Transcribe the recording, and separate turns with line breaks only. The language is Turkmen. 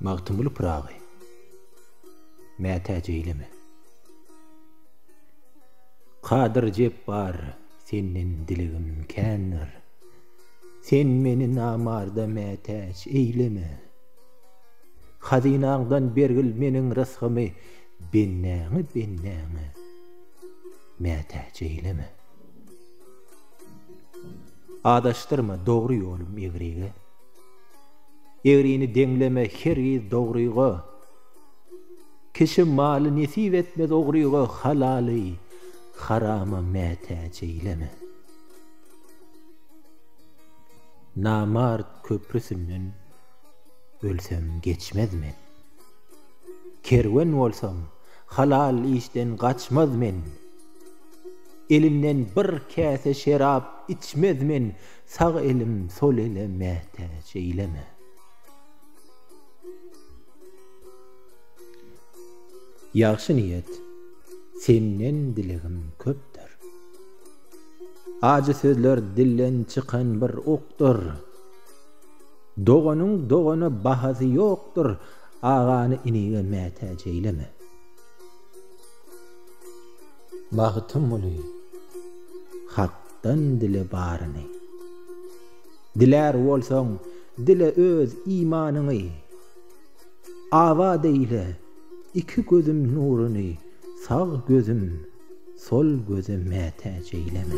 Magtymguly Pyragy mätäç eýleme. Kadyr Jepbar senden dilegim kändir. Sen meni namarda mätäç eýleme. Hazynaňdan bergil meniň rysgymy bendäňi bendäňe mätäç eýleme. Adaşdyrma dogry ýolum egrige, Egrini deňleme hergiz dogryga. Kişi maly nesip etmez ogryga, Halaly harama mätäç eýleme. Namart köprüsinden ölsem geçmez men, Kerwen bolsam halal işden gaçmaz men. Elinden bir käse şerap içmez men sag elim sol ele mätäç eýleme. Ýagşy niýet senden dilegim köpdür. Ajy sözler dilden çykan bir okdur. Doganyň dogana bahasy ýokdur, agany inige mätäç eýleme. Magtymguly, Hakdan dile baryny. Dilär bolsaň, dile öz imanyňy. Abat eýle iki gözüm nuruny, Sag gözüm, sol göze mätäç eýleme.